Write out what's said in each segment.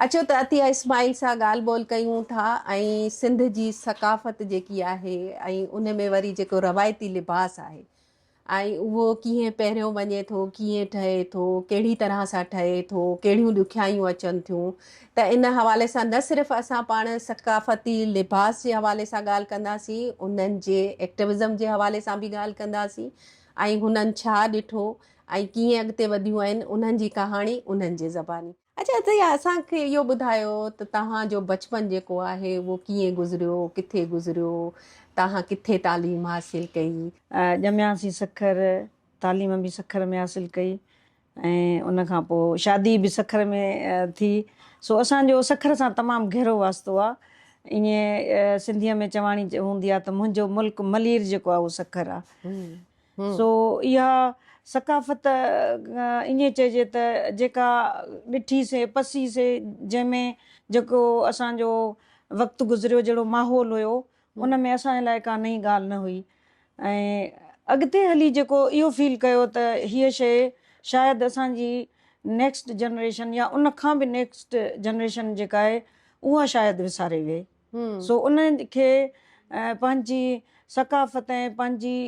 اچو ته عطيه اسماعيل سان ڳالهه ٻولهه ڪيون ٿا ۽ سنڌ جي ثقافت جيڪي آهي ۽ ان ۾ وري جيڪو روايتي لباس آهي ۽ اهو ڪيئن پهريون وڃي ٿو ڪيئن ٺهي ٿو ڪهڙي طرح سان ٺهي ٿو ڪهڙيون ڏکيائيون اچن ٿيون ته ان حوالي سان نه صرف اسان پاڻ ثقافتي لباس جي حوالي سان ڳالهه ڪنداسين انهن جي ايڪٽوزم جي حوالي سان به ڳالهه ڪنداسين ۽ هنن ڇا ڏٺو ۽ ڪيئن اڳتي وڌيون آهن انهن جي ڪهاڻي انهن جي زباني. اچا ته اسان کي اهو ٻڌايو ته توهان جو بچپن جيڪو آهي اهو ڪيئن گذريو ڪٿي گذريو توهان ڪٿي تعليم حاصل ڪئي. ڄمياسين سکر تعليم به سکر ۾ حاصل ڪئي ۽ ان کان پوء شادي به سکر ۾ ٿي سو اسان جو سکر سان تمام گهرو واسطو آ ائين سنڌي ۾ چواڻي هوندي آ ته منهنجو ملڪ ملير جيڪو آ اهو سکر آ سو اها ثقافت ائين چئجي ته جيڪا ڏٺي سي پسي سي جنهن ۾ جيڪو اسان جو وقت گذريو جهڙو ماحول هيو ان ۾ اسان جي لاء ڪا نئين ڳالهه نه هئي ۽ اڳتي هلي جيڪو اهو فيل ڪيو ته هيء شيء شايد اسان جي نيڪسٽ جنريشن يا ان کان به نيڪسٽ جنريشن جيڪا آهي اها شايد وساري ويهي. سو ان کي پنهنجي ثقافت ۽ پنهنجي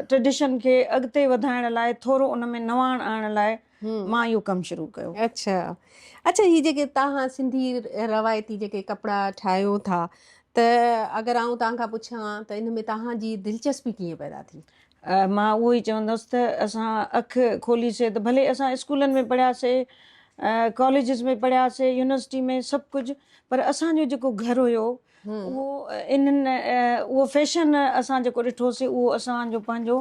ٽريڊيشن کي اڳتي وڌائڻ لاء ٿورو ان ۾ نواڻ آڻڻ لاء مان اهو ڪم شروع ڪيو. اڇا اڇا هي جيڪي توهان سنڌي روايتي جيڪي ڪپڙا ٺاهيو ٿا ته اگر آئون توهان کان پڇان ته ان ۾ توهان جي دلچسپي ڪيئن پيدا ٿي؟ مان اهو ئي چوندس ته اسان اک کولي سي ته ڀلي اسان اسڪولن ۾ پڙهيا سي ڪاليجز ۾ پڙهيا سي يونيورسٽي ۾ سڀ ڪجهه پر اسان جو جيڪو گهر هيو اهو انهن اهو فيشن اسان جيڪو ڏٺو سي اهو اسان جو پنهنجو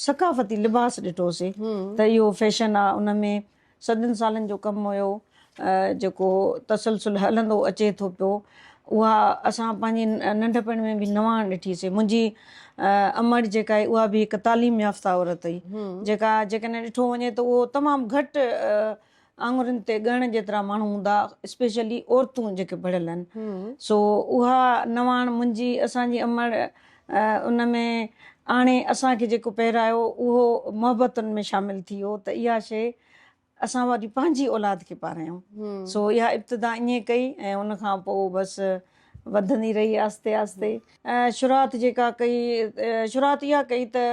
ثقافتي لباس ڏٺو سي ته اهو فيشن آ ان ۾ صدين سالن جو ڪم هيو جيڪو تسلسل هلندو اچي ٿو پيو اها اسان پنهنجي ننڍپڻ ۾ به نواڻ ڏٺي سي منهنجي امڙ جيڪا هئي اها به هڪ تعليم يافته عورت هئي جيڪا جيڪڏهن ڏٺو وڃي ته اهو تمام گهٽ آڱرين تي ڳڻڻ جيترا ماڻهو هوندا اسپيشلي عورتون جيڪي پڙهيل آهن سو اها نواڻ منهنجي اسان جي امڙ ان ۾ آڻي اسان کي جيڪو پهرايو اهو محبتن ۾ شامل ٿي ويو ته اها شيء اسان واري پنهنجي اولاد کي پاريائون سو اها ابتدا ائين ڪئي ۽ ان کان پوء بس وڌندي رهي آهستي آهستي شروعات جيڪا ڪئي شروعات اها ڪئي ته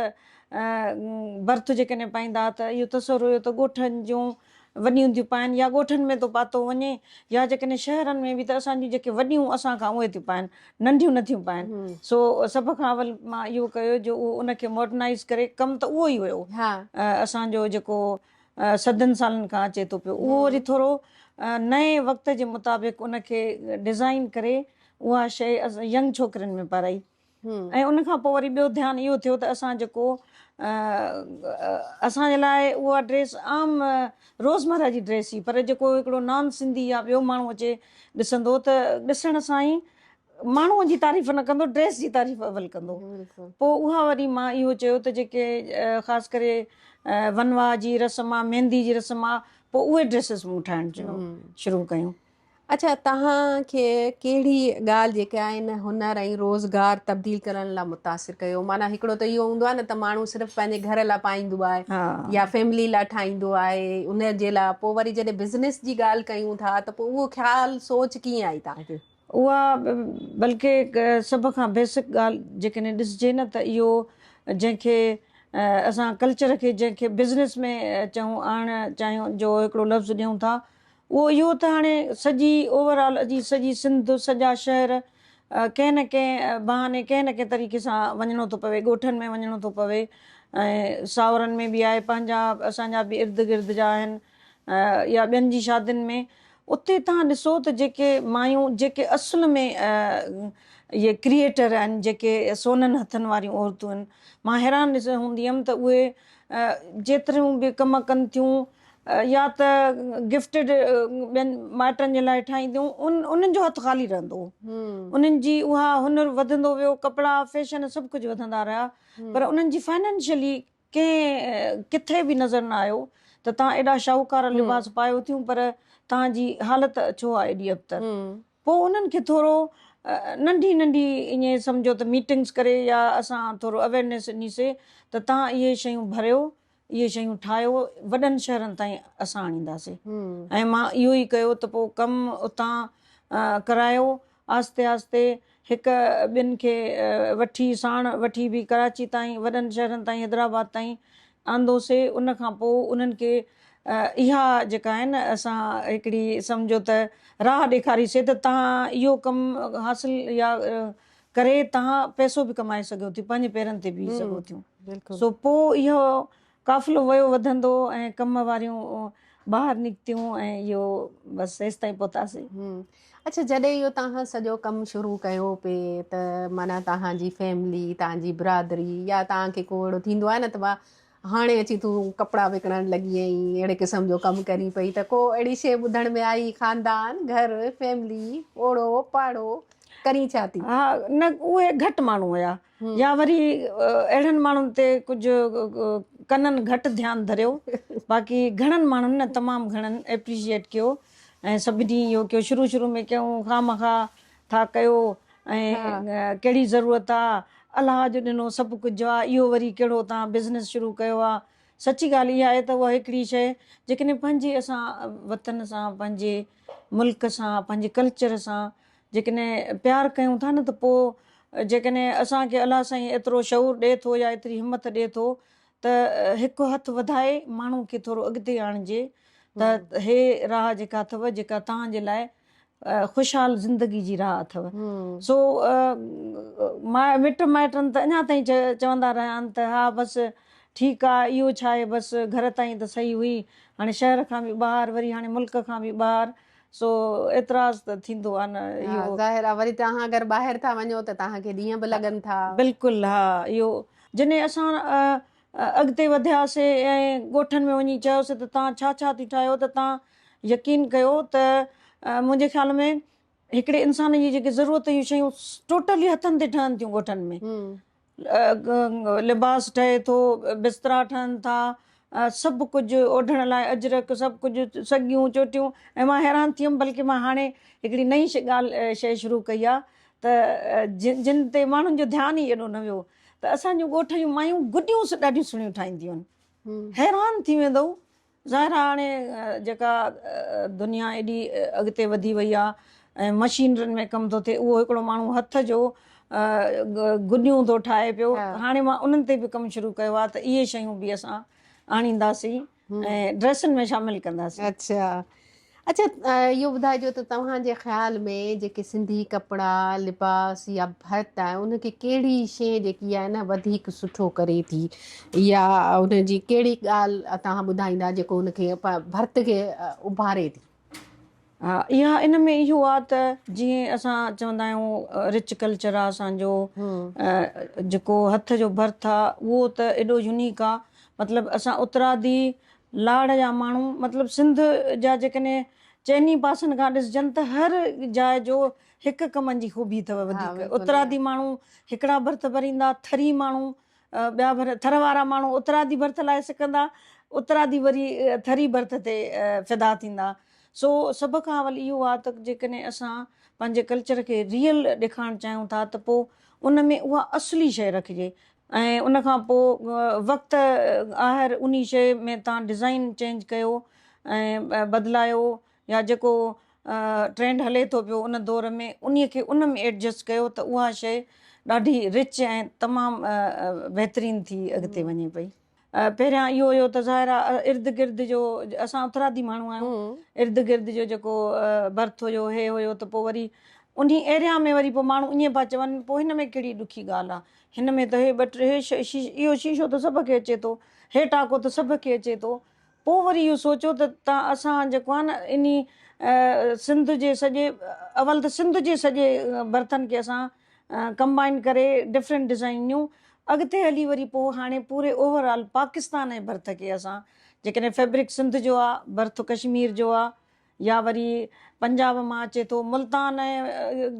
برٿ جيڪڏهن پائيندا ته اهو تصور هيو ته ڳوٺن جون وڏي هونديون پائن يا ڳوٺن ۾ ٿو پاتو وڃي يا جيڪڏهن شهرن ۾ به ته اسان جون جيڪي وڏيون اسان کان اهي ٿيون پائن ننڍيون نه ٿيون پائن سو سڀ کان اول مان اهو ڪيو جو اهو ان کي ماڊرنائيز ڪري ڪم ته اهو ئي هيو اسان جو جيڪو صدين سالن کان اچي ٿو پيو اهو وري ٿورو نئين وقت جي مطابق ان کي ڊزائين ڪري اها شيء ينگ ڇوڪرين ۾ پارائي. ۽ ان کان پوء وري ٻيو ڌيان اهو ٿيو ته اسان جيڪو اسان جي لاء اها ڊريس عام روزمره جي ڊريس هئي پر جيڪو هڪڙو نان سنڌي يا ٻيو ماڻهو اچي ڏسندو ته ڏسڻ سان ئي ماڻهوء جي تعريف نه ڪندو ڊريس جي تعريف اول ڪندو پوء اها وري مان اهو چيو ته جيڪي خاص ڪري ونواهه جي رسم آ ميندي جي رسم آ پوء اهي ڊريسز مون ٺاهڻ شروع ڪيون اڇا توهان کي ڪهڙي ڳالهه جيڪي آهن هنر ۽ روزگار تبديل ڪرڻ لا متاثر ڪيو معنيٰ هڪڙو ته اهو هوندو آهي نه ته ماڻهو صرف پنهنجي گهر لا پائيندو آهي يا فيملي لا ٺاهيندو آهي ان جي لا پوء وري جڏهن بزنس جي ڳالهه ڪيون ٿا ته پوء اهو خيال سوچ ڪيئن آئي توهان کي اها بلڪه سڀ کان بيسڪ ڳالهه جيڪڏهن ڏسجي نه ته اهو جنهن کي اسان ڪلچر کي جنهن کي بزنس ۾ چئون آڻڻ چاهيون جو هڪڙو لفظ ڏيون ٿا اهو اهو ته هاڻي سڄي اوور آل جي سڄي سنڌ سڄا شهر ڪنهن نه ڪنهن بهاني ڪنهن نه ڪنهن طريقي سان وڃڻو ٿو پوي ڳوٺن ۾ وڃڻو ٿو پوي ۽ ساهورن ۾ به آهي پنهنجا اسان جا به ارد گرد جا آهن يا ٻين جي شادين ۾ اتي توهان ڏسو ته جيڪي مايون جيڪي اصل ۾ اهي ڪريئيٽر آهن جيڪي سونن هٿن واريون عورتون آهن مان حيران ڏسندي هوندي هيم ته اهي جيتريون به ڪم ڪن ٿيون يا ته گفٽيڊ ٻين مائٽن جي لاء ٺاهينديون ان انهن جو هٿ خالي رهندو هو انهن جي اها هنر وڌندو ويو ڪپڙا فيشن سڀ ڪجهه وڌندا رهيا پر انهن جي فائنانشلي ڪنهن ڪٿي به نظر نه آيو ته تان ايڏا شاهوڪار لباس پايو ٿيون پر تان جي حالت ڇو آ ايڏي ابتر پو انهن کي ٿورو ننڍي ننڍي ائين سمجهو ته ميٽنگس ڪري يا اسان ٿورو اويرنيس ڏني سي ته تان اهي شيون ڀريو اهي شيون ٺاهيو وڏن شهرن تائين اسان آڻينداسين ۽ مان اهو ئي ڪيو ته پوء ڪم اتان ڪرايو آهستي آهستي هڪ ٻن کي وٺي ساڻ وٺي به ڪراچي تائين وڏن شهرن تائين حيدرآباد تائين آندوسي ان کان پوء انهن کي اها جيڪا آهي نه اسان هڪڙي سمجهو ته راهه ڏيکاري سي ته تهان اهو ڪم حاصل يا ڪري تهان پئسو به ڪمائي سگهيو ٿيون پنهنجي پيرن تي بيهي سگهو ٿيون سو پوء اهو قافلو ويو وڌندو ۽ ڪم واريون ٻاهر نڪتيون ۽ اهو بس هيستائين پهتاسين اڇا جڏهن اهو تهان سڄو ڪم شروع ڪيو پي ته معنيٰ تهان جي فيملي تهان جي برادري يا تهان کي ڪو اهڙو ٿيندو آهي نه ته هاڻي اچي تون ڪپڙا وڪڻڻ لڳي ۽ اهڙي قسم جو ڪم ڪرين پئي ته ڪو اهڙي شيء ٻڌڻ ۾ آئي، خاندان، گهر، فيملي، اوڙو، پاڙو، ڪرين ڇا ٿي؟ ها، نه اهي گهٽ ماڻهو هيا يا وري اهڙن ماڻهن تي ڪجهه ڪنن گهٽ ڌيان ڌريو، باقي گهڻن ماڻهن نه تمام گهڻن ايپريشيئيٽ ڪيو ۽ سڀني اهو ڪيو، شروع شروع ۾ ڪئون، خامخواه ٿا ڪيو ۽ ڪهڙي ضرورت آ الله جو ڏنو سڀ ڪجهه آ اهو وري ڪهڙو توهان بزنس شروع ڪيو آ سچي ڳالهه اها آهي ته اها هڪڙي شيء جيڪڏهن پنهنجي اسان وطن سان پنهنجي ملڪ سان پنهنجي ڪلچر سان جيڪڏهن پيار ڪيون ٿا نه ته پوء جيڪڏهن اسان کي الله سائين ايترو شعور ڏئي ٿو يا ايتري همت ڏئي ٿو ته هڪ هٿ وڌائي ماڻهو کي ٿورو اڳتي آڻجي ته هي راهه جيڪا اٿو جيڪا توهان جي لاء خوشحال زندگي جي راهه اٿئو سو مائٽ مٽ مائٽن ته اڃا تائين چوندا رهيا آهن ته ها بس ٺيڪ آهي اهو ڇا آهي بس گهر تائين ته صحيح هئي هاڻي شهر کان به ٻاهر وري هاڻي ملڪ کان به ٻاهر سو اعتراض ته ٿيندو آهي نه اهو ظاهر آهي وري توهان اگر ٻاهر ٿا وڃو ته توهان کي ڏينهن به لڳن ٿا بلڪل ها اهو جنهن اسان اڳتي وڌيا سي ۽ ڳوٺن ۾ وڃي چيو سي ته توهان ڇا ڇا ٿي ٺاهيو ته توهان يقين ڪيو ته منهنجي خيال ۾ هڪڙي انسان جي جيڪي ضرورت جون شيون ٽوٽلي هٿن تي ٺهن ٿيون ڳوٺن ۾ لباس ٺهي ٿو بسترا ٺهن ٿا سڀ ڪجهه اوڍڻ لاء اجرڪ سڀ ڪجهه سڳيون چوٽيون ۽ مان حيران ٿيم بلڪه مان هاڻي هڪڙي نئين ڳالهه شيء شروع ڪئي آهي ته جن تي ماڻهن جو ڌيان ئي ايڏو نه ويو ته اسان جون ڳوٺ جون مايون گڏيون ڏاڍيون سهڻيون ٺاهينديون آهن حيران ٿي ويندو ظاهر آهي هاڻي جيڪا دنيا ايڏي اڳتي وڌي وئي آهي ۽ مشينرين ۾ ڪم ٿو ٿئي اهو هڪڙو ماڻهو هٿ جو گڏيون ٿو ٺاهي پيو هاڻي مان انهن تي به ڪم شروع ڪيو آهي ته اهي شيون به اسان آڻينداسين ڊريسن ۾ شامل ڪنداسين. اڇا اڇا اهو ٻڌائجو ته توهان جي خيال ۾ جيڪي سنڌي ڪپڙا لباس يا ڀت آهي ان کي ڪهڙي شي جيڪي آهي نه وڌيڪ سٺو ڪري ٿي يا ان جي ڪهڙي ڳالهه توهان ٻڌائيندا جيڪو ان کي ڀت کي اڀاري ٿي. اها ان ۾ اهو آ ته جيئن اسان چوندا آهيون رچ ڪلچر آ اسان جو جيڪو هٿ جو برٿ آ اهو ته ايڏو يونيڪ آ مطلب اسان اترادي لاڙ جا ماڻهو مطلب سنڌ جا جيڪڏهن چئني پاسن کان ڏسجن ته هر جاء جو هڪ هڪ منجي خوبي اٿو وڌيڪ اترادي ماڻهو هڪڙا برٿ ڀريندا ٿري ماڻهو ٻيا ڀر ٿر وارا ماڻهو اترادي ڀرٿ لاء سڪندا، اترادي وري ٿري ڀرٿ تي فدا ٿيندا. سو سڀ کان اول اهو آهي ته جيڪڏهن اسان پنهنجي ڪلچر کي ريئل ڏيکارڻ چاهيون ٿا ته پوء ان ۾ اها اصلي شيء رکجي ۽ ان کان پوء وقت آهر انهي شيء ۾ تان ڊزائين چينج ڪيو ۽ بدلايو يا جيڪو ٽرينڊ هلي ٿو پيو ان دور ۾ انهي کي ان ۾ ايڊجسٽ ڪيو ته اها شيء ڏاڍي رچ ۽ تمام بهترين ٿي اڳتي وڃي پئي. پهريان اهو هيو ته ظاهر آ ارد گرد جو اسان اترادي ماڻهو آهيون ارد گرد جو جيڪو برٿ هيو هي هيو ته پوء وري انهي ايريا ۾ وري پوء ماڻهو ائين پيا چون پوء هن ۾ ڪهڙي ڏکي ڳالهه آ هن ۾ ته هي ٻه ٽي اهو شيشو ته سڀ کي اچي ٿو هي ٽاڪو ته سڀ کي اچي ٿو پوء وري اهو سوچو ته تان اسان جيڪو آهي نه انهي سنڌ جي سڄي اول ته سنڌ جي سڄي برتن کي اسان ڪمبائن ڪري ڊفرنٽ ڊزائين نيون اڳتي هلي وري پوء هاڻي پوري اوور آل پاڪستان جي برٿ کي اسان جيڪڏهن فيبرڪ سنڌ جو آ برٿ ڪشمير جو آ يا وري پنجاب مان اچي ٿو ملتان ۽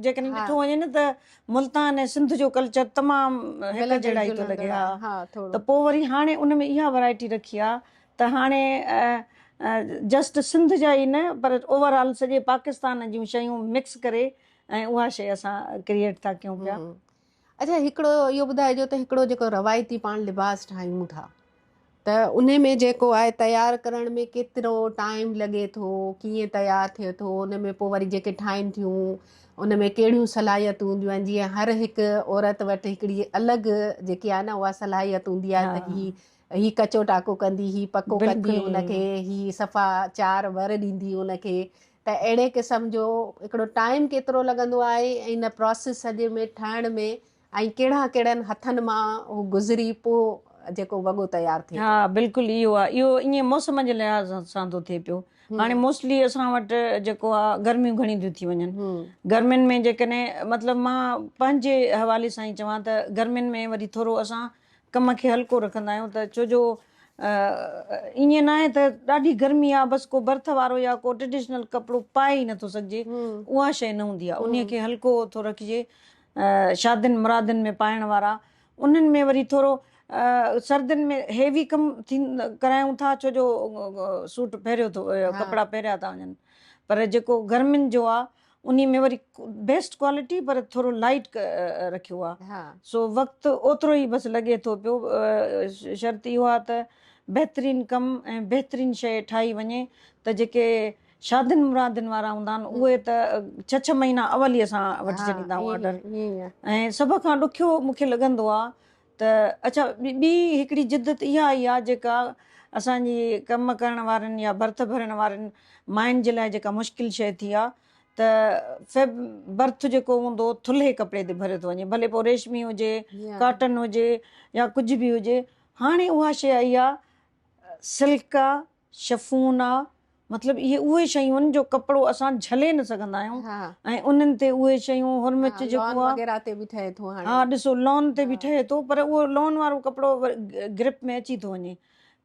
جيڪڏهن ڏٺو وڃي نه ته ملتان ۽ سنڌ جو ڪلچر تمام هڪ جهڙا ئي ٿو لڳي ها ته پوء وري هاڻي ان ۾ اها ورايٽي رکي آ ته هاڻي جسٽ سنڌ جا ئي نه پر اوور آل سڄي پاڪستان جون شيون مڪس ڪري ۽ اها شي اسان ڪريئيٽ ٿا ڪيون پيا. اچا هڪڙو اهو ٻڌائجو ته هڪڙو جيڪو روايتي پاڻ لباس ٺاهيون ٿا ته ان ۾ جيڪو آهي تيار ڪرڻ ۾ ڪيترو ٽائيم لڳي ٿو ڪيئن تيار ٿئي ٿو ان ۾ پوء وري جيڪي ٺاهين ٿيون ان ۾ ڪهڙيون صلاحيتون هونديون آهن جيئن هر هڪ عورت وٽ هڪڙي الڳ جيڪي آهي نه اها صلاحيت هوندي آهي ته هي هي ڪچو ٽاڪو ڪندي هي پڪو ڪندي ان کي هي صفا چار ور ڏيندي ان کي ته اهڙي قسم جو هڪڙو ٽائيم ڪيترو لڳندو آهي ۽ ان پراسيس سڄي ۾ ٺاهڻ ۾ ۽ ڪهڙا ڪهڙن هٿن مان هو گذري پوء جيڪو وڳو تيار ٿئي ٿو. ها بلڪل اهو آهي اهو ائين موسم جي لحاظ سان ٿو ٿئي پيو هاڻي موسٽلي اسان وٽ جيڪو آهي گرميون گهڻيون ٿيون ٿي وڃن گرمين ۾ جيڪڏهن مطلب مان پنهنجي حوالي سان ئي چوان ته گرمين ۾ وري ٿورو اسان ڪم کي هلڪو رکندا آهيون ته ڇو جو ائين ناهي ته ڏاڍي گرمي آ بس ڪو برٿ وارو يا ڪو ٽريڊيشنل ڪپڙو پائي ئي نٿو سگهجي اها شيء نه هوندي آ انهي کي هلڪو ٿو رکجي شادين مرادين ۾ پائڻ وارا انهن ۾ وري ٿورو سردين ۾ هيوي ڪم ڪرايون ٿا ڇو جو سوٽ پهريو ٿو ڪپڙا پهريا ٿا وڃن پر جيڪو گرمين جو آ انهي ۾ وري بيسٽ ڪوالٽي پر ٿورو لائٽ رکيو آ سو وقت اوترو ئي بس لڳي ٿو پيو شرط اهو آ ته بهترين ڪم ۽ بهترين شئي ٺاهي وڃي ته جيڪي شادين مرادين وارا هوندا آهن اهي ته ڇهه ڇهه مهينا اول ئي اسان وٺي ڇڏيندا آهيون آرڊر ۽ سڀ کان ڏکيو مونکي لڳندو آ ته اڇا ٻي هڪڙي جدت اها آئي آ جيڪا اسان جي ڪم ڪرڻ وارين يا برٿ ڀرڻ وارين ماين جي لاء جيڪا مشڪل شيء ٿي آ ته فيب برٿ جيڪو هوندو ٿلهي ڪپڙي تي ڀريو ٿو وڃي ڀلي پوء ريشمي هجي ڪاٽن هجي يا ڪجهه به هجي هاڻي اها شيء آئي آ سلڪ آ شفونا، مطلب اهي اهي شيون آهن جو ڪپڙو اسان جهلي نه سگهندا آهيون ۽ انهن تي اهي شيون هرمچ جيڪو آهي لون وغيره تي به ٺهي ٿو هاڻي ها ڏسو لون تي به ٺهي ٿو پر اهو لون وارو ڪپڙو گرپ ۾ اچي ٿو وڃي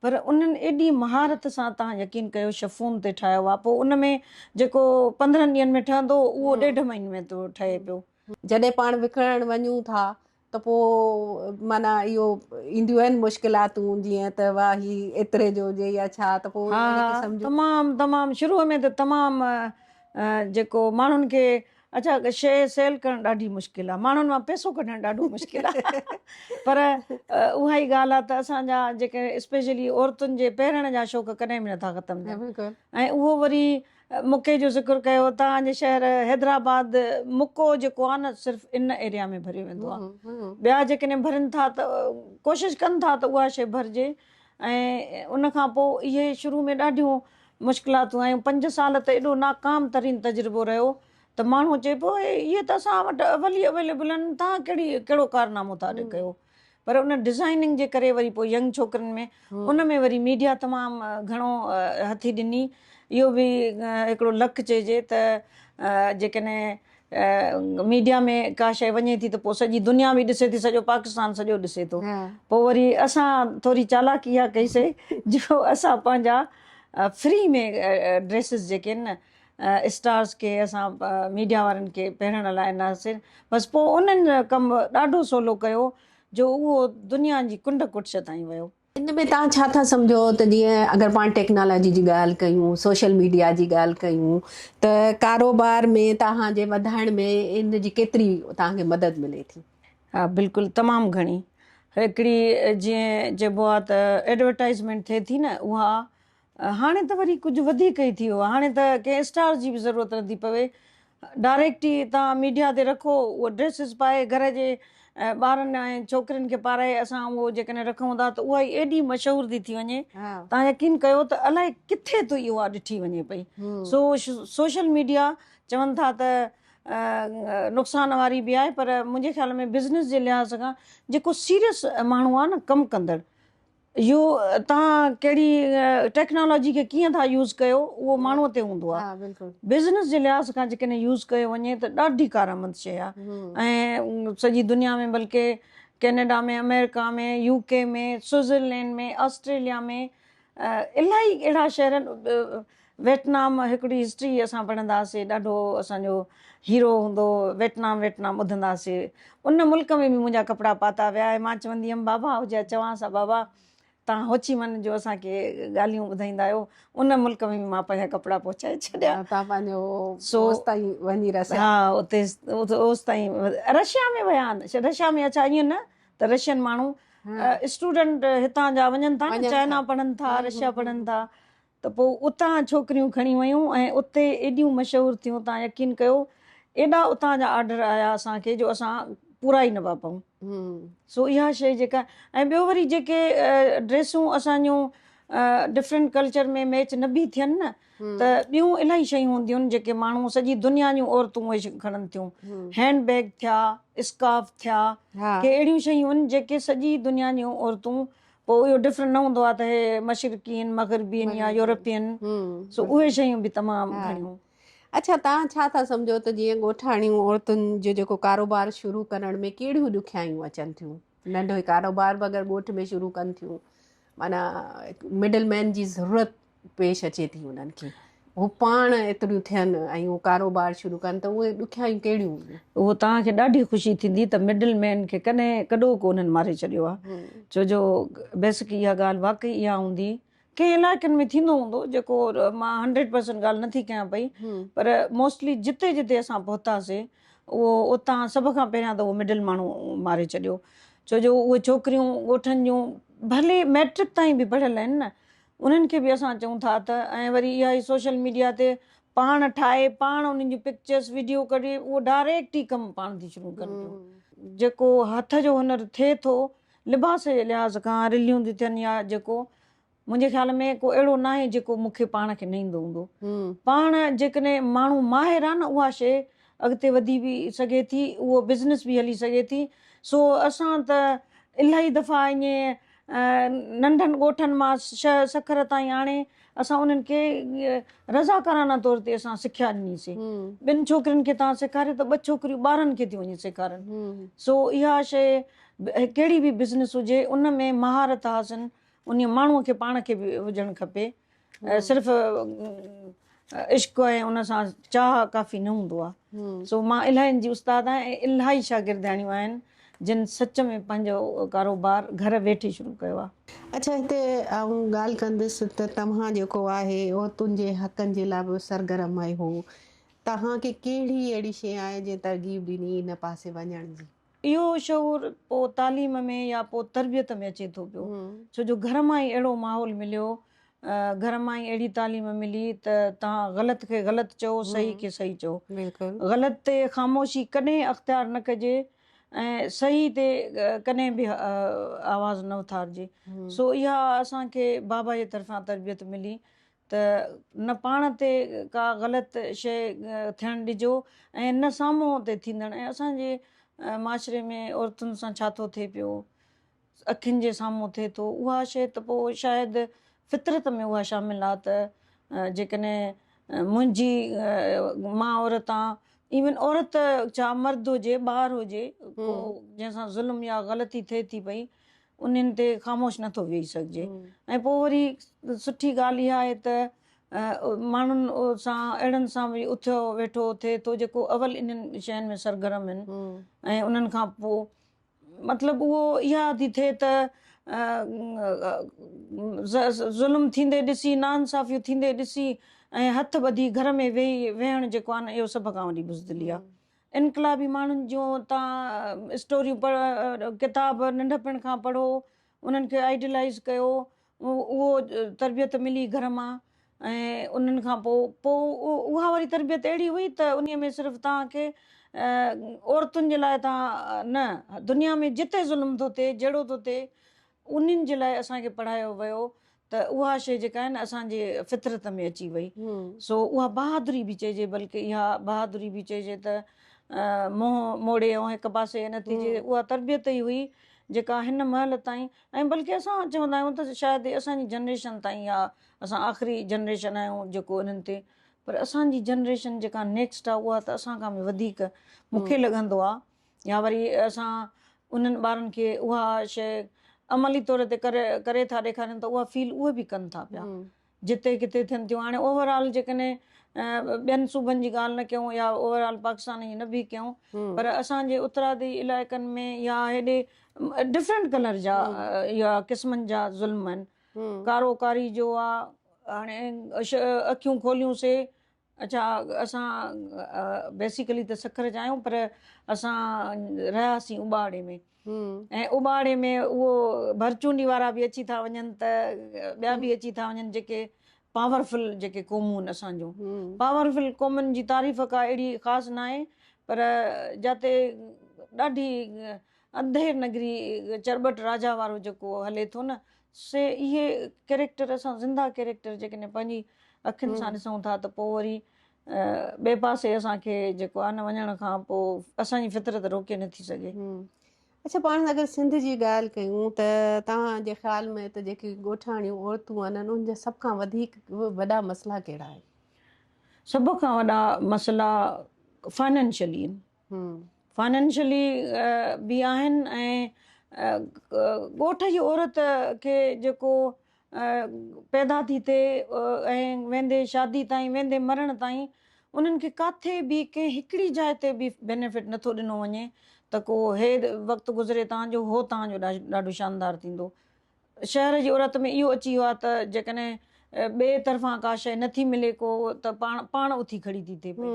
پر انهن ايڏي مهارت سان تهان يقين ڪيو شفون تي ٺاهيو آهي پوء ان ۾ جيڪو پندرهن ڏينهن ۾ ٺهندو اهو ڏيڍ مهيني ۾ ٿو ٺهي پيو. جڏهن پاڻ وڪڻڻ وڃون ٿا ته پوء معنيٰ اهو اينديون آهن مشڪلاتون جيئن ته واه هي ايتري جو هجي يا ڇا ته پوء ها ها تمام تمام شروع ۾ ته تمام جيڪو ماڻهن کي اڇا شيء سيل ڪرڻ ڏاڍي مشڪل آهي ماڻهن مان پيسو ڪڍڻ ڏاڍو مشڪل آهي پر اها ئي ڳالهه آهي ته اسان جا جيڪي اسپيشلي عورتن جي پهرڻ جا شوق ڪڏهن به نٿا ختم ٿين ۽ اهو وري مڪي جو ذڪر ڪيو توهان جي شهر حيدرآباد مڪو جيڪو آهي نه صرف ان ايريا ۾ ڀريو ويندو آهي ٻيا جيڪڏهن ڀرين ٿا ته ڪوشش ڪن ٿا ته اها شيء ڀرجي ۽ ان کان پوء اهي شروع ۾ ڏاڍيون مشڪلاتون آيون پنج سال ته ايڏو ناڪام ترين تجربو رهيو ته ماڻهو چئي پيو اهي ته اسان وٽ اول ئي اويليبل آهن تهان ڪهڙي ڪهڙو ڪارنامو ٿا ڪيو پر ان ڊزائننگ جي ڪري وري پوء ينگ ڇوڪرين ۾ ان ۾ وري ميڊيا تمام گهڻو هٿي ڏني اهو به هڪڙو لڪ چئجي ته جيڪڏهن ميڊيا ۾ ڪا شيء وڃي ٿي ته پوء سڄي دنيا به ڏسي ٿي سڄو پاڪستان سڄو ڏسي ٿو پوء وري اسان ٿوري چالاڪي اها ڪئي سي جو اسان پنهنجا فري ۾ ڊريسز جيڪي آهن نه اسٽارز کي اسان ميڊيا وارن کي پهرڻ لاء نه سر بس پوء انهن ڪم ڏاڍو سولو ڪيو جو اهو دنيا جي ڪنڊ ڪٽش تائين ويو. ان ۾ توهان ڇا ٿا سمجهو ته جيئن اگر پاڻ ٽيڪنالاجي جي ڳالهه ڪيون سوشل ميڊيا جي ڳالهه ڪيون ته ڪاروبار ۾ توهان جي وڌائڻ ۾ ان جي ڪيتري توهان کي مدد ملي ٿي؟ ها بلڪل تمام گهڻي هڪڙي جيئن چئبو آهي ته ايڊورٽائزمينٽ ٿئي ٿي نه اها هاڻي ته وري ڪجهه وڌيڪ ئي ٿي ويو آهي. هاڻي ته ڪنهن اسٽار جي به ضرورت نه ٿي پوي. ڊائريڪٽ ئي توهان ميڊيا تي رکو اهي ڊريسز پائي گهر جي ٻارن ۽ ڇوڪرين کي پارائي اسان اهو جيڪڏهن رکون ٿا ته اها ئي ايڏي مشهور ٿي ٿي وڃي توهان يقين ڪيو ته الائي ڪٿي ته اها ڏٺي وڃي پئي. سو سوشل ميڊيا چون ٿا ته نقصان واري به آهي پر منهنجي خيال ۾ بزنس جي لحاظ کان جيڪو سيريس ماڻهو آهي نه ڪم ڪندڙ اهو توهان ڪهڙي ٽيڪنالاجي کي ڪيئن ٿا يوز ڪيو اهو ماڻهو تي هوندو آهي بزنس جي لحاظ کان جيڪڏهن يوز ڪيو وڃي ته ڏاڍي ڪارآمد شيء آهي ۽ سڄي دنيا ۾ بلڪه ڪينيڊا ۾ آمريڪا ۾ يو ڪي ۾ سوئزرلينڊ ۾ آسٽريليا ۾ الاهي اهڙا شهر ويٽنام هڪڙي هسٽري اسان پڙهنداسي ڏاڍو اسان جو هيرو هوندو ويٽنام ويٽنام ٻڌنداسي ان ملڪ ۾ به منهنجا ڪپڙا پاتا ويا آهي مان چوندي هيم بابا هو جا چوانس ها بابا تان هوچي من جو اسان کي ڳالهيون ٻڌائيندا آهيو ان ملڪ ۾ به مان پنهنجا ڪپڙا پهچائي ڇڏيا تان پنهنجو سو اوس تائين وڃي رسيا ها اتي اوس تائين رشيا ۾ ويا آهن رشيا ۾ اچا ائين نه ته رشين ماڻهو اسٽوڊنٽ هتان جا وڃن ٿا چائنا پڙهن ٿا رشيا پڙهن ٿا ته پوء اتان ڇوڪريون کڻي ويون ۽ اتي ايڏيون مشهور ٿيون تان يقين ڪيو ايڏا اتان جا آرڊر آيا اسان کي جو اسان پورا ئي نه پيا پئون سو اها شيء جيڪا ۽ ٻيو وري جيڪي ڊريسون اسان جون ڊفرنٽ ڪلچر ۾ ميچ نه به ٿين نه ته ٻيون الاهي شيون هونديون آهن جيڪي ماڻهو سڄي دنيا جون عورتون اهي کڻن ٿيون هينڊ بيگ ٿيا اسڪارف ٿيا ڪي اهڙيون شيون آهن جيڪي سڄي دنيا جون عورتون پوء اهو ڊفرنٽ نه هوندو آهي ته هي مشرقين مغربين يا يورپين سو اهي شيون به تمام گهڻيون اڇا توهان ڇا ٿا سمجهو ته جيئن ڳوٺاڻيون عورتن جو جيڪو ڪاروبار شروع ڪرڻ ۾ ڪهڙيون ڏکيائيون اچن ٿيون ننڍو ڪاروبار به اگر ڳوٺ ۾ شروع ڪن ٿيون معنيٰ مڊل مين جي ضرورت پيش اچي ٿي انهن کي هو پاڻ ايتريون ٿين ۽ هو ڪاروبار شروع ڪن ته اهي ڏکيائيون ڪهڙيون هونديون اهو توهان کي ڏاڍي خوشي ٿيندي ته مڊل مين کي ڪڏهن ڪڏو ڪو انهن ماري ڇڏيو آهي ڇو جو بيسڪ اها ڳالهه واقعي اها هوندي ڪنهن علائقن ۾ ٿيندو هوندو جيڪو مان هنڊريڊ پرسنٽ ڳالهه نٿي ڪيان پئي پر موسٽلي جتي جتي اسان پهتاسي اهو اتان سڀ کان پهريان ته اهو مڊل ماڻهو ماري ڇڏيو ڇو جو اهي ڇوڪريون ڳوٺن جون ڀلي ميٽرڪ تائين به پڙهيل آهن نه انهن کي به اسان چئون ٿا ته ۽ وري اها ئي سوشل ميڊيا تي پاڻ ٺاهي پاڻ انهن جون پڪچرس وڊيو ڪڍي اهو ڊائريڪٽ ئي ڪم پاڻ ٿي شروع ڪن پيون جيڪو هٿ جو هنر ٿئي ٿو لباس جي لحاظ کان رليون ٿي ٿين يا جيڪو منهنجي خيال ۾ ڪو اهڙو ناهي جيڪو مون کي پاڻ کي نه ايندو هوندو پاڻ جيڪڏهن ماڻهو ماهر آهي نه اها شي اڳتي وڌي به سگهي ٿي اهو بزنس به هلي سگهي ٿي سو اسان ته الاهي دفعا ائين ننڍن ڳوٺن مان شهر سکر تائين آڻي اسان انهن کي رضاڪارانه طور تي اسان سکيا ڏني سي ٻن ڇوڪرين کي تان سيکاريو ته ٻه ڇوڪريون ٻارن کي ٿيون وڃي سيکارن سو اها شيء ڪهڙي به بزنس هجي ان ۾ مهارت حاصل انهي ماڻهو کي پاڻ کي به هجڻ کپي صرف عشق ۽ ان سان چاهه ڪافي نه هوندو آ سو مان الاهين جي استاد آهيان ۽ الاهي شاگردياڻيون آهن جن سچ ۾ پنهنجو ڪاروبار گهر ويٺي شروع ڪيو آ. اڇا هتي آئون ڳالهه ڪندس ته توهان جيڪو آهي عورتن جي حقن جي لاء به سرگرم آهي هو توهان کي ڪهڙي اهڙي شي آهي جنهن ترغيب ڏني ان پاسي وڃڻ جي. اهو شعور پوء تعليم ۾ يا پوء تربيت ۾ اچي ٿو پيو ڇو جو گهر مان ئي اهڙو ماحول مليو گهر مان ئي اهڙي تعليم ملي ته توهان غلط کي غلط چئو صحيح کي صحيح چئو غلط تي خاموشي ڪڏهن اختيار نه ڪجي ۽ صحيح تي ڪڏهن به آواز نه اٿارجي سو اها اسان کي بابا جي طرفان تربيت ملي ته نه پاڻ تي ڪا غلط شيء ٿيڻ ڏجو ۽ نه سامهون تي ٿيندڙ ۽ اسان جي معاشري ۾ عورتن سان ڇا ٿو ٿئي پيو اکين جي سامهون ٿئي ٿو اها شيء ته پوء شايد فطرت ۾ اها شامل آ ته جيڪڏهن منهنجي مان عورت آ ايون عورت ڇا مرد هجي ٻار هجي جنهن سان ظلم يا غلطي ٿئي ٿي پئي انهن تي خاموش نٿو ويهي سگهجي ۽ پوء وري سٺي ڳالهه اها آهي ته ماڻهن سان اهڙن سان به اٿيو ويٺو ٿئي ٿو جيڪو اول انهن شين ۾ سرگرم آهن ۽ انهن کان پوء مطلب اهو اها ٿي ٿئي ته ظلم ٿيندي ڏسي نا انصافيون ٿيندي ڏسي ۽ هٿ ٻڌي گهر ۾ ويهي ويهڻ جيڪو آهي نه اهو سڀ کان وڏي بزدلي آهي انقلابي ماڻهن جون تان اسٽوريون پڙهو ڪتاب ننڍپڻ کان پڙهو انهن کي آئيڊلائيز ڪيو اهو تربيت ملي گهر مان ۽ انهن کان پوء پوء اها وري تربيت اهڙي هئي ته انهي ۾ صرف توهان کي عورتن جي لاء تان نه دنيا ۾ جتي ظلم ٿو ٿئي جهڙو ٿو ٿئي انهن جي لاء اسان کي پڙهايو ويو ته اها شيء جيڪا آهي نه اسان جي فطرت ۾ اچي وئي سو اها بهادري به چئجي بلڪه اها بهادري به چئجي ته منهن موڙي ۽ هڪ پاسي نه ٿي جي اها تربيت ئي هئي جيڪا هن مهل تائين ۽ بلڪه اسان چوندا آهيون ته شايد اسان جي جنريشن تائين اها اسان آخري جنريشن آهيون جيڪو انهن تي پر اسان جي جنريشن جيڪا نيڪسٽ آهي اها ته اسان کان به وڌيڪ مون کي لڳندو آهي يا وري اسان انهن ٻارن کي اها شيء عملي طور تي ڪري ٿا ڏيکاريون ته اها فيل اهي به ڪن ٿا پيا جتي ڪٿي ٿين ٿيون. هاڻي اوور آل جيڪڏهن ٻين صوبن جي ڳالهه نه ڪيون يا اوور آل پاڪستان جي نه به ڪيون پر اسان جي اترادي علائقن ۾ يا هيڏي ڊفرنٽ ڪلر جا يا قسمن جا ظلم آهن. ڪارو ڪاري جو آ هاڻي اکيون کوليون سي اچا اسان بيسيڪلي ته سکر جا آهيون پر اسان رهياسين اباڙي ۾ ۽ اباڙي ۾ اهو ڀرچونڊي وارا به اچي ٿا وڃن ته ٻيا به اچي ٿا وڃن جيڪي پاورفل جيڪي قومون آهن اسان جون پاورفل قومن جي تعريف ڪا اهڙي خاص نه آهي پر جاتي ڏاڍي انڌير نگري چرٻٽ راجا وارو جيڪو هلي ٿو نه سي اهي ڪيريڪٽر اسان زنده ڪيريڪٽر جيڪڏهن پنهنجي اکين سان ڏسون ٿا ته پوء وري ٻئي پاسي اسان کي جيڪو آهي نه وڃڻ کان پوء اسان جي فطرت روڪي نه ٿي سگهي. اڇا پاڻ اگر سنڌ جي ڳالهه ڪيون ته توهان جي خيال ۾ اتي جيڪي ڳوٺاڻيون عورتون آهن انهن جا سڀ کان وڌيڪ وڏا مسئلا ڪهڙا آهن؟ سڀ کان وڏا مسئلا فائنانشلي آهن. فائنينشلي به آهن ۽ ڳوٺ جي عورت کي جيڪو پيدا ٿي ٿئي ۽ ويندي شادي تائين ويندي مرڻ تائين انهن کي ڪاٿي به ڪنهن هڪڙي جاء تي به بينيفٽ نه ٿو ڏنو وڃي ته ڪو هي وقت گذري تان جو هو تان جو ڏاڍو شاندار ٿيندو. شهر جي عورت ۾ اهو اچي ويو آهي ته جيڪڏهن ٻئي طرفان ڪا شيء نه ٿي ملي ڪو ته پاڻ پاڻ اٿي کڙي ٿي ٿئي پئي.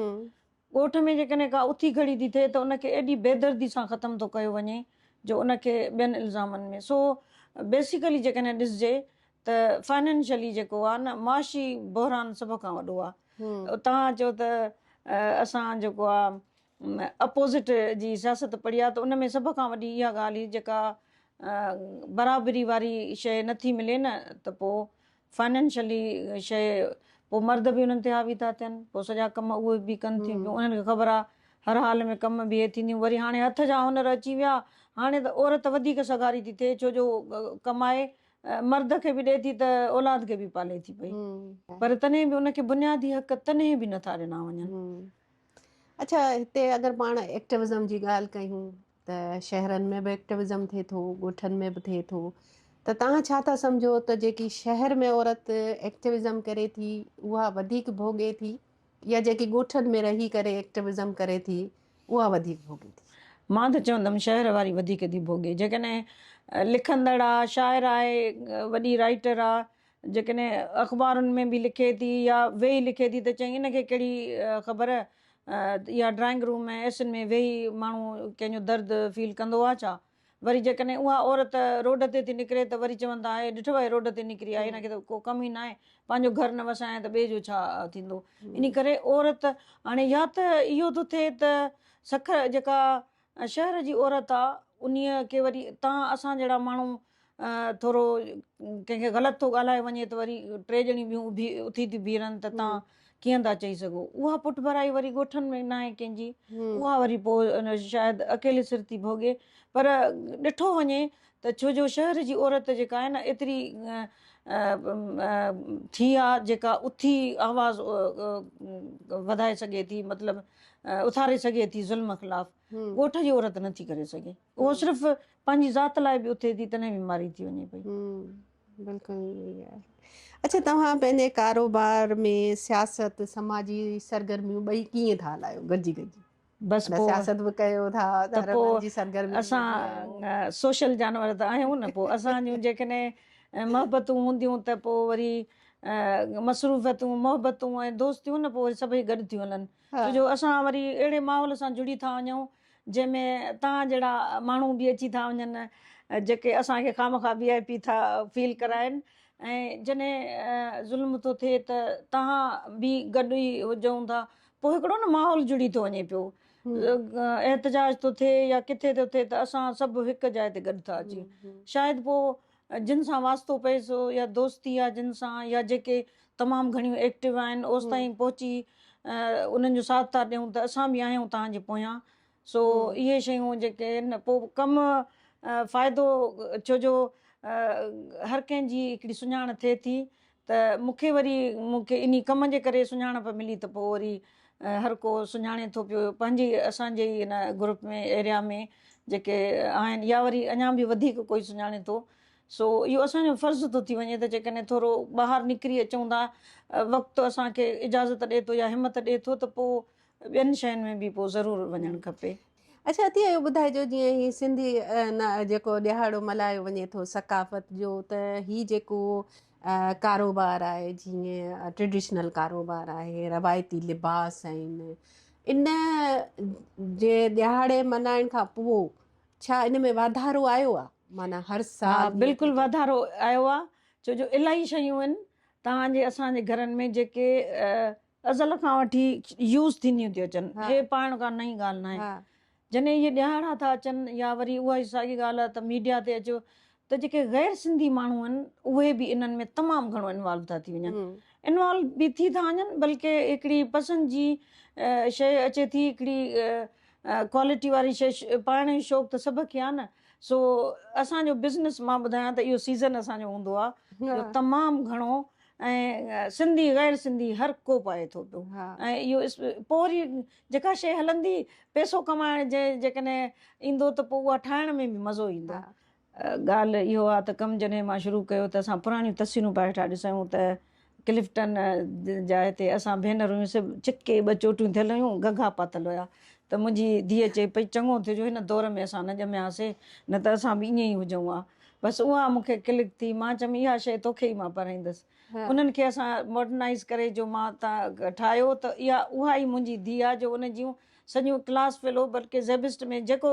ڳوٺ ۾ جيڪڏهن ڪا اٿي کڙي ٿي ٿئي ته ان کي ايڏي بيدردي سان ختم ٿو ڪيو وڃي جو ان کي ٻين الزامن ۾ سو بيسيڪلي جيڪڏهن ڏسجي ته فائنينشلي جيڪو آهي نه معاشي بحران سڀ کان وڏو آهي توهان چئو ته اسان جيڪو آهي اپوزٽ جي سياست پڙهي آهي ته ان ۾ سڀ کان وڏي اها ڳالهه هئي جيڪا برابري واري شيء نٿي ملي نه ته پوء فائنينشلي شيء پوء مرد به انهن تي حاوي ٿا ٿين پوء سڄا ڪم اهي به ڪن ٿيون پيون انهن کي خبر آ هر حال ۾ ڪم به اهي ٿينديون وري هاڻي هٿ جا هنر اچي ويا هاڻي ته عورت وڌيڪ سگهاري ٿي ٿئي ڇو جو ڪمائي مرد کي به ڏي ٿي ته اولاد کي به پالي ٿي پئي پر تڏهن به ان کي بنيادي حق تڏهن به نٿا ڏنا وڃن اڇا هتي اگر پاڻ ايڪٽوزم جي ڳالهه ڪيون ته شهرن ۾ به ايڪٽوزم ٿئي ٿو ڳوٺن ۾ به ٿئي ٿو ته تهان ڇا ٿا سمجهو ته جيڪي شهر ۾ عورت ايڪٽوزم ڪري ٿي اها وڌيڪ ڀوڳي ٿي يا جيڪي ڳوٺن ۾ رهي ڪري ايڪٽوزم ڪري ٿي اها وڌيڪ ڀوڳي ٿي. مان ته چوندم شهر واري وڌيڪ ٿي ڀوڳي جيڪڏهن لکندڙ آ شاعر آهي وڏي رائيٽر آ جيڪڏهن اخبارن ۾ به لکي ٿي يا ويهي لکي ٿي ته چئين ان کي ڪهڙي خبر يا ڊرائنگ روم ۽ اي سين ۾ ويهي ماڻهو ڪنهن جو درد فيل ڪندو آهي ڇا؟ وري جيڪڏهن اها عورت روڊ تي ٿي نڪري ته وري چون ٿا هيء ڏٺو هيء روڊ تي نڪري آهي هن کي ته ڪو ڪم ئي ناهي پنهنجو گهر نه وسايائين ته ٻئي جو ڇا ٿيندو انهي ڪري عورت هاڻي يا ته اهو ٿو ٿئي ته سکر جيڪا شهر جي عورت آ انهيء کي وري تان اسان جهڙا ماڻهو ٿورو ڪنهن کي غلط ٿو ڳالهائي وڃي ته وري ٽي ڄڻي ٻيون اڀي اٿي ٿي بيهرن ته تان ڪيئن ٿا چئي سگهو اها پٺڀرائي وري ڳوٺن ۾ ناهي ڪنهن جي اها وري پوء شايد اڪيلي سر ٿي ڀوڳي پر ڏٺو وڃي ته ڇو جو شهر جي عورت جيڪا آهي نه ايتري ٿي آ جيڪا اٿي آواز وڌائي سگهي ٿي مطلب اٿاري سگهي ٿي ظلم خلاف ڳوٺ جي عورت نٿي ڪري سگهي اهو صرف پنهنجي ذات لاء به اٿي ٿي تڏهن به ماري ٿي وڃي پئي بلڪل اچھا توهان پنهنجي ڪاروبار ۾ سياست سماجي سرگرميون ٻئي ڪيئن ٿا هلايو گڏجي گڏجي بس پوء سياست به ڪيو ٿا ته پوء اسان سوشل جانور ته آهيون نه پوء اسان جون جيڪڏهن محبتون هونديون ته پوء وري مصروفيتون محبتون ۽ دوستيون نه پوء وري سڀئي گڏ ٿيون هلن ڇو جو اسان وري اهڙي ماحول سان جڙي ٿا وڃون جنهن ۾ توهان جهڙا ماڻهو به اچي ٿا وڃن جيڪي اسان کي خامخواه وي آء پي ٿا فيل ڪرائن ۽ جڏهن ظلم ٿو ٿئي ته توهان به گڏ ئي هجون ٿا پوء هڪڙو نه ماحول جڙي ٿو وڃي پيو احتجاج ٿو ٿئي يا ڪٿي ٿو ٿئي ته اسان سڀ هڪ جاء تي گڏ ٿا اچي شايد پوء جن سان واسطو پئي سو يا دوستي آ جن سان يا جيڪي تمام گهڻيون ايڪٽو آهن اوستائين پهچي انهن جو ساٿ ٿا ڏيون ته اسان به آهيون توهان جي پويان سو اهي شيون جيڪي پوء ڪم فائدو ڇو جو هر ڪنهن جي هڪڙي سڃاڻ ٿئي ٿي ته مون کي وري مون کي انهي ڪم جي ڪري سڃاڻپ ملي ته پوء وري هر ڪو سڃاڻي ٿو پيو پنهنجي اسان جي ئي ان گروپ ۾ ايريا ۾ جيڪي آهن يا وري اڃان به وڌيڪ ڪوئي سڃاڻي ٿو سو اهو اسان جو فرض ٿو ٿي وڃي ته جيڪڏهن ٿورو ٻاهر نڪري اچون ٿا وقت اسان کي اجازت ڏي ٿو يا همت ڏي ٿو ته پوء ٻين شين ۾ به پوء ضرور وڃڻ کپي. اڇا عطيه اهو ٻڌائجو جيئن هي سنڌي جيڪو ڏهاڙو ملهايو وڃي ٿو ثقافت جو ته هي جيڪو ڪاروبار آهي جيئن ٽريڊيشنل ڪاروبار آهي روايتي لباس آهن ان جي ڏهاڙي ملهائڻ کان پوء ڇا ان ۾ واڌارو آيو آهي معنی هر سال بلڪل واڌارو آيو آهي ڇو جو الاهي شيون آهن توهان جي اسان جي گهرن ۾ جيڪي ازل کان وٺي يوز ٿينديون ٿيون اچن هي پاڻ ڪا نئين ڳالهه ناهي جڏهن اهي ڏيهاڙا ٿا اچن يا وري اها ئي ساڳي ڳالهه ته ميڊيا تي اچو ته جيڪي غير سنڌي ماڻهو آهن اهي به انهن ۾ تمام گهڻو انوالو ٿا ٿي وڃن انوالو به ٿي ٿا وڃن بلڪه هڪڙي پسند جي شيء اچي ٿي هڪڙي ڪوالٽي واري شيء پائڻ جو شوق ته سڀ کي آهي نه سو اسان جو بزنس مان ٻڌايان ته اهو سيزن اسان جو هوندو آهي جو تمام گهڻو ۽ سنڌي غير سنڌي هر ڪو پائي ٿو پيو ۽ اهو پوء وري جيڪا شيء هلندي پيسو ڪمائڻ جي جيڪڏهن ايندو ته پوء اها ٺاهڻ ۾ به مزو ايندو. ڳالهه اهو آهي ته ڪم جڏهن مان شروع ڪيو ته اسان پراڻيون تصويرون پئي هيٺان ڏسيون ته ڪلفٽن جا هتي اسان ڀينرون هيون سڀ چڪي ٻه چوٽيون ٿيل هيون گگها پاتل هيا ته منهنجي ڌيء چئي پئي چڱو ٿيو جو هن دور ۾ اسان نه ڄمياسي نه ته اسان به ائين ئي هجون ها بس اها مون کي ڪلڪ ٿي. مان چيم اها شيء توکي ئي مان پرائيندس. انهن کي اسان ماڊرنائيز ڪري جو مان تان ٺاهيو ته اها اها ئي منهنجي ڌيء آ جو ان جون سڄيون ڪلاس فيلو بلڪه زيبسٽ ۾ جيڪو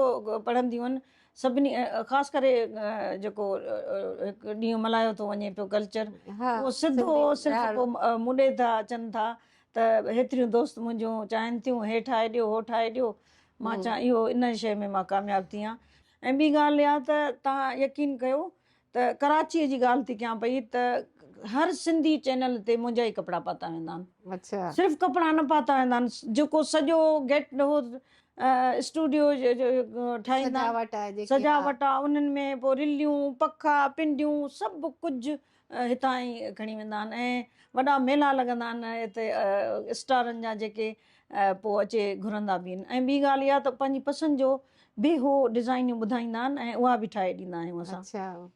پڙهنديون آهن سڀني خاص ڪري جيڪو هڪ ڏينهن ملهايو ٿو وڃي پيو ڪلچر اهو سڌو صرف ڪو مونڊي ٿا اچن ٿا ته هيتريون دوست منهنجون چاهن ٿيون هي ٺاهي ڏيو هو ٺاهي ڏيو مان چان اهو ان شيء ۾ مان ڪامياب ٿي آن. ۽ ٻي ڳالهه اها ته توهان يقين ڪيو ته ڪراچيء جي ڳالهه ٿي ڪيان پئي ته هر سنڌي چينل تي منهنجا ئي ڪپڙا پاتا ويندا آهن. صرف ڪپڙا نه پاتا ويندا آهن جيڪو سڄو گيٽ هو اسٽوڊيو ٺاهيندا آهن سجاوٽ آهي انهن ۾ پوء رليون، پکا، پنڊيون سڀ ڪجهه هتان ئي کڻي ويندا آهن ۽ وڏا ميلا لڳندا آهن هتي اسٽارن جا جيڪي پوء اچي گهرندا به آهن ۽ ٻي ڳالهه اها ته پنهنجي پسند جو به هو ڊزائنيون ٻڌائيندا آهن ۽ اها به ٺاهي ڏيندا آهيون اسان.